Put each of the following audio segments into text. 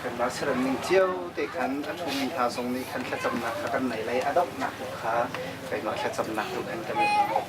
Kanmah saram ning cio te khan kan ummi hna zong nih khan thlacamnak kha kan nei lai a donghnak tu kha keimah thlacamnak tu in kan i hmuh.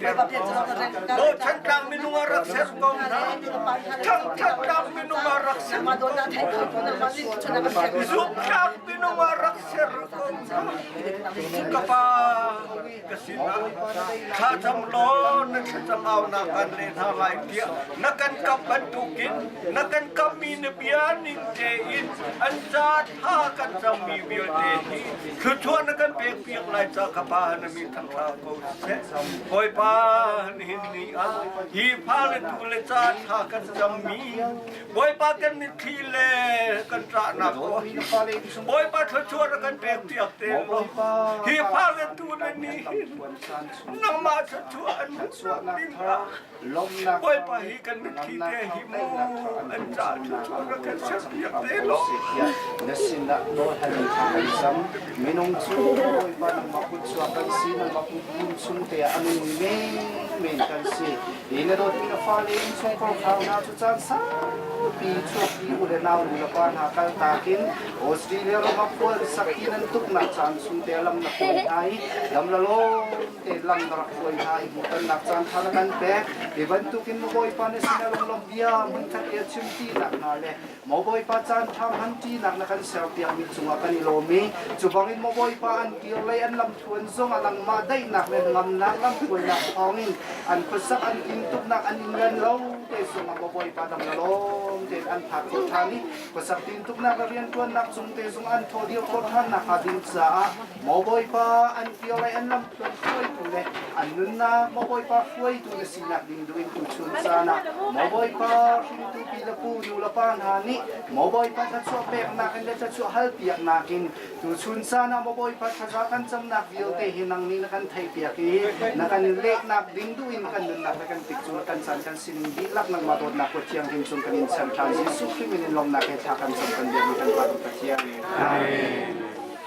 Lo Thantlang minung a rak ser ko. Thantlang minung a rak ser ko. Zumtlang minung a rak ser ko. Ka pa ka sin na thla tham lo na thlacam au na kan le na lai pia na kan kam bantukin na kan kam mi na bia ning te in an cha tha kan cham mi bia te hi thluthua na kan pek piak lai cha ka pa na mi thang la Bawipa nihin ni ah hi fale tu le ca thla kan cammi Bawipa kan mitthli le kan ṭahnak ko Bawipa thluachuah a kan pek piak te law hi fale tu le nihin nangmah thluachuah an ding ah Bawipa hi kan mitthli te hi maw an cah ṭhuthu ka kan serpiak te law. Na sinah dawhhalmi kha kan zam. Minung cu Bawipa nangmah kutchuak kan si, nangmah kutkum chungte ah a nungmi menmen kan si. I na dawtmi na fale in chungkhar hrang hna cu caan saupi chuahpi u le nau nulepa hna kal takin Australia ram ah khual sakhi nan tuknak caan chungte lam na hruai hna i lam la law te lam ka rak hruai hna i hmuhtonnak caanṭha na kan pek, hi bantukin na Bawipa nih sinah lawnglawmh bia hmunkhat i a chim ṭinak hna le maw Bawipa caanṭha hmanṭinak na kan serpiakmi cungah kan i lawm i cu bangin maw Bawipa an kir lei an lamthluan zongah nangmah daihnak le ngamnak lamhruainak thawngin an khuasak an tintuknak an in len lo te zongah maw Bawipa dang na lawm tein an phak khawh ṭhan i khuasak tintuknak le rianṭuannak cung te zong an thaw dir khawh ṭhan nakhnga ding caah Maw Bawipa, an kio le an lamtluan hruaitu le an nunnak Maw Bawipa hruaitu na sinak ding duin tuchun caan ah Maw Bawipa hringtu pi le pu nu le pa hna nih Maw Bawipa thluachuah peknak in le thluachuah halpiaknak in tuchun caan ah Maw Bawipa thaza kan camnak vialte hi nang nih na kan theihpiak i na kan lehnak ding duin kan nunnak le kan tik cu na kan caan kan sining dihlak nangmah dawtnak kuat thianghlim cung kan in chanh ṭhan Jesuh Khrih min in lawmhnak he thla kan cam kan biakmi kan Pa Pathian. Amen.